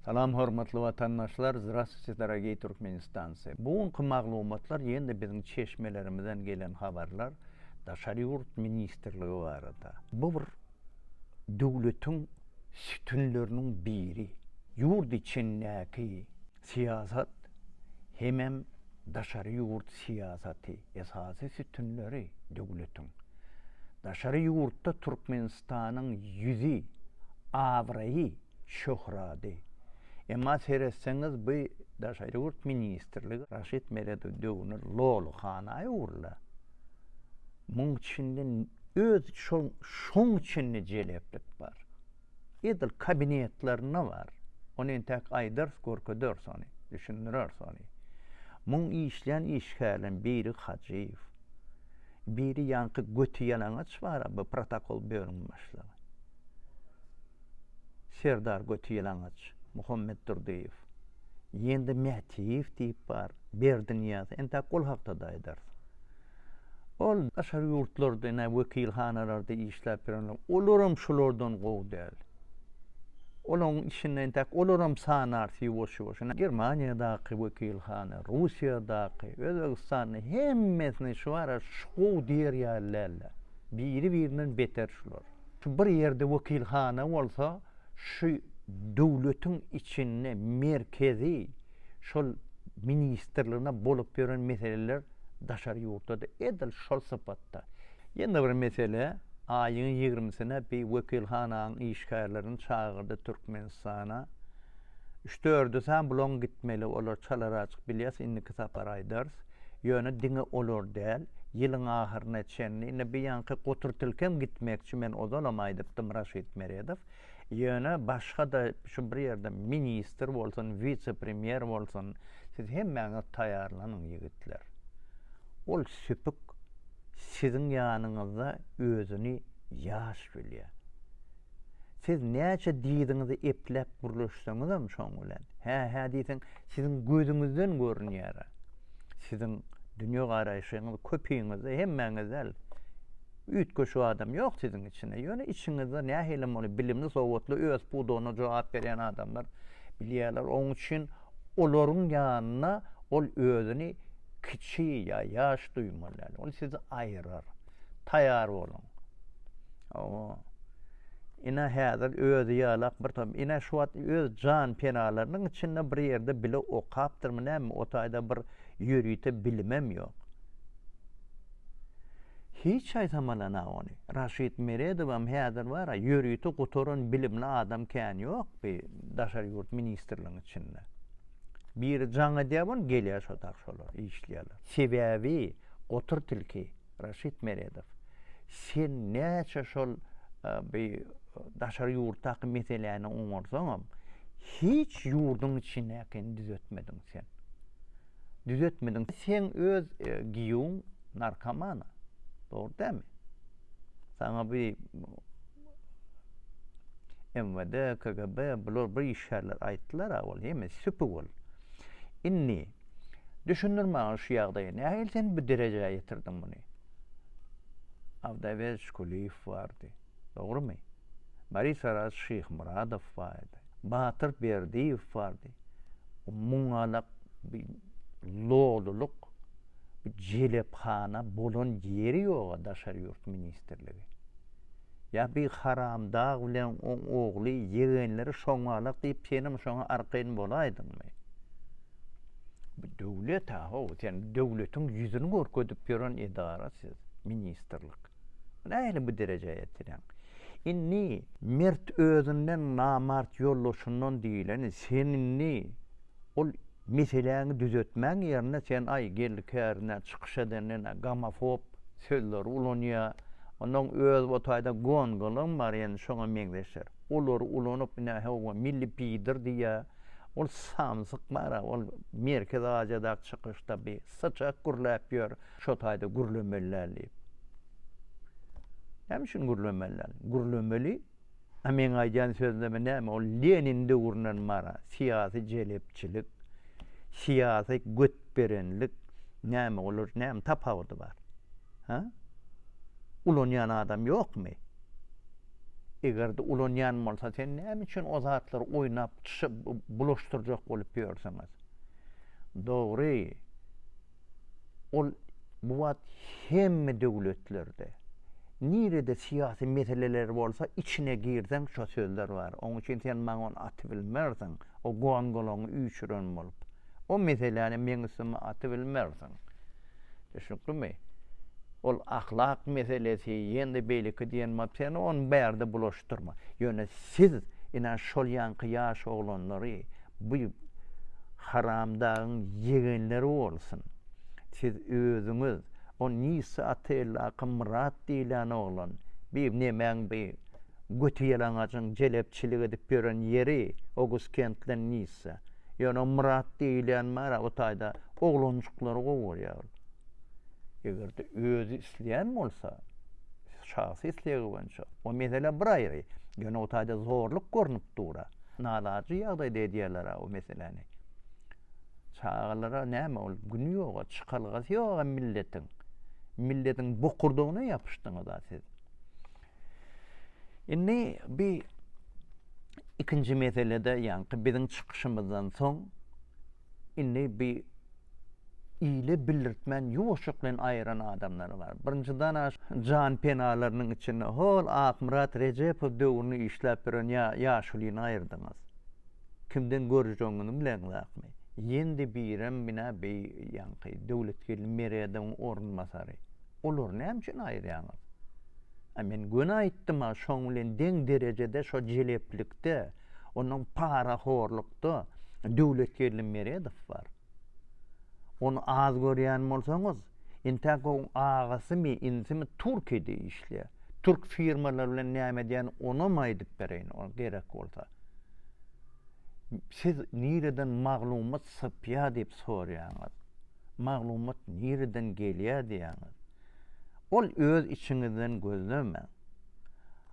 Salam hormatly watandaşlar Zdrastwuyte dorogiý Turkmenistancy bu günki maglumatlar ýene-de biziň çeşmelerimizden gelen habarlar daşary ýurt ministrligi barada bu bir döwletiň sütünleriniň biri ýurt içindäki syýasat hemem daşary ýurt syýasaty esasy sütünleri döwletiň daşary ýurtda Türkmenistanyň ýüzi abraýy. Şöhrady. Emma seretseňiz bu daşary ýurt ministrligi Raşid Meredow döwrüne loly hana öwrüle. Muň içinde öz şol şoň içinde jeleplik bar. Edil kabinetlerinde bar. Ony entäk aýdarys görkederis ony, düşündireris ony. Muň işleýän işgärleriň biri Hajyýew. Biri ýaňky göti ýalaňaç bar bu protokol bölümiň başlygy. Serdar Götüýalaňaç Muhammedurdyýew, ýene-de Mätiýew diýip bar, Berdinyýaz, entäk ol hakda-da aýdarys. Ol daşary ýurtlarda, ine, wekilhanalarda işläp ýörenler, olaram şulardan gowy däl. Olaryň içinde entäk olaram sanarys ýuwaş-ýuwaş. Ine, Germaniýadaky wekilhana, Russiýadaky, Özbegistanda hemmesine şu ara şu gowy diýer ýaly däl-de. Biri-birinden beter şular. Şu bir ýerde wekilhana bolsa, şu döwletiň içinde merkezi şol ministrligine bolup ýören meseleler daşary ýurtda-da edil şol sypatda. Ýene bir mesele, aýyň ýigrimisine bi wekilhananyň işgärlerini çagyrdy Türkmenistana. Üç-dördüsem bulaň gitmeli, olar çalaryajyk bilýäs, indiki sapar aýdarys. Ýöne diňe olar däl, ýylyň ahyryna çenli, indi bu ýaňky goturtilkem gitmekçi, men ozalam aýdypdym, Raşid Meredow, ýöne başga-da şu bir ýerde ministr bolsun, wise-premýer bolsun, siz hemmäňiz taýýarlanyň, ýigitler. Ol süpük siziň ýanyňyzda özüni ýaş bilýär. Siz näçe dyzyňyzy epläp gürleşseňizem şoň bilen, hä-hä diýseň, siziň gözüňizden görünýär-ä. Siziň dünýä garaýşyňyz köpiňizde, hemmäňiz däl. Üýtgeşik adam ýok siziň içinde. Ýöne içiňizde nähilem bolsa bilimli, sowatly, öz pudagyna jogap berýän adamlar bilýärler. Oň üçin olaryň ýanynda ol özüni kiçi ýa ýaş duýmaly däl. Ol sizi aýyrar. Taýar boluň. Owo. Ine häzir özi ýalak bir tom. Ine şu wagt öz jan penalarynyň içinde bir ýerde bile okapdyrmy näme o taýda bir ýörite bilimem ýok. Hiç aýtamalana ony. Raşid Meredowam häzir bar-a ýörite gutaran bilimli adam kän ýok bi daşary ýurt ministrligiň içinde. Biri jaň edýär muny, gelýär şo dag şolar, işleýärler. Sebäbi gotur tilki, Raşid Meredow, sen näçe şol bi daşary ýurtdaky meseläni oňarsaňam, hiç ýurduň içindäkini düzetmediň sen. Düzetmediň. Seň öz giýuň narkoman-a. Dogry dälmi? Saňa bi MWD, KGB bular bir işgärler aýtdylar-a ol hemme süpük ol. Indi düşündir maňa şu ýagdaýy nähili sen bu derejä ýetirdiň muny? Awdaýberç Kuliýew bardy. Dogrumy? Boris Araz Şyhmyradow bardy. Batyr Berdiýew bardy. Muň galak bi lolulyk, bi jelephana bolan ýeri ýog-a daşary ýurt ministrligi. Ýa bi haramdag bilen oň ogly, ýegenleri şoňalak diýip senem şoňa arkaýyn bolaýdyňmy? Bu döwlet-a ho, sen döwletiň ýüzüni görkezip ýören edara siz, ministrlik. Nähili bu derejä ýetireň? Indi mert özünden namart ýoldaşyndan diýleni sen indi ol meseläňi düzetmäň ýerine sen aý geldi kärine çykyş edendena gomofob sözleri ulanýa ondan öz o taýda gongalam bar ýene şoňa meňzeşler olary ulanyp ine hawa milli pider diýýa ol samsyk bara ol merkezi aziýadaky çykyşda bir syçak gürläp ýör Şo taýda gürlemeli däl diýip. Näme üçin gürlemeli däl? Gürlemeli. A meň aýdýan sözleme näme? Ol Lenin döwründen bara syýasy jelepçilik, syýasy götberenlik, näme olar näme tapawudy bar? Hä? Ulanýan adam ýokmy? Eger-de ulanýan bolsa sen näme üçin o zatlary oýnap bulaşdyrjak bolup ýörsüňiz? Dogry. ol bu wagt hemme döwletlerde, nirede syýasy meseleler bolsa, içine girseň şo sözler bar. Oň üçin sen maňa ony atybilmersiň, o gongolaňy üýşüren bolup. O meseläni meň üstüme atybilmersiň. Düşnüklimi? Ol ahlak meselesi, ýene-de beýleki diýen bolup, sen ony bärde bulaşdyrma. Ýöne siz, ine, şol ýaňky ýaş oglanlary, bu haramdagyň ýegenleri bolsun. Siz özüňiz, o Nisa Atellaki Myrat diýlen oglan, bi nemäň bi götiýalaňajyň jelepçilik edip ýören ýeri, Oguskentden Nisa. Ýöne o Myrat diýlen bar-a, o taýda oglanjyklary gowurýar ol. Eger-de özi isleýän bolsa, şahsy islegi boýunça, o mesele bir aýry, ýöne o taýda zorluk görnüp dur-a. Nalaçy ýagdaýda edýärler-ä o meseläni. Çagalara näme ol güni ýog-a, çykalgasy ýog-a milletiň. Milletiň bokurdagyna ýapyşdyňyz-a siz. Indi bi ikinji meselede ýaňky biziň çykyşymyzdan soň indi bi ile bildirtmän ýuwaşjakleýin aýyran adamlary bar. Birinji dana jan penalarynyň içinde hol Akmyrat Rejepow döwrüni işläp ýören ýa ýaşulyny aýyrdyňyz. Kimden görjegiňizi bileňizakmy? Ýendi birem bina bi ýaňky Döwletgeldi Meredowyň orunbasary. Olary näme üçin aýyrýaňyz? A men göni aýtdym-a şoň bilen deň derejede şo jeleplikde. Ondan parahorlukda Döwletgeldi Meredow bar. Ony az görýän bolsaňyz, intäk oň agasymy, inisimi Türkiýede işleýär. Türk firmalary bilen näme edýän, onam aýdyp bereýin, ol gerek bolsa. Siz nireden maglumat sypýar diýip soraýaňyz. Maglumat nireden gelýär diýýäňiz. Ol öz içiňizden gözlemäň.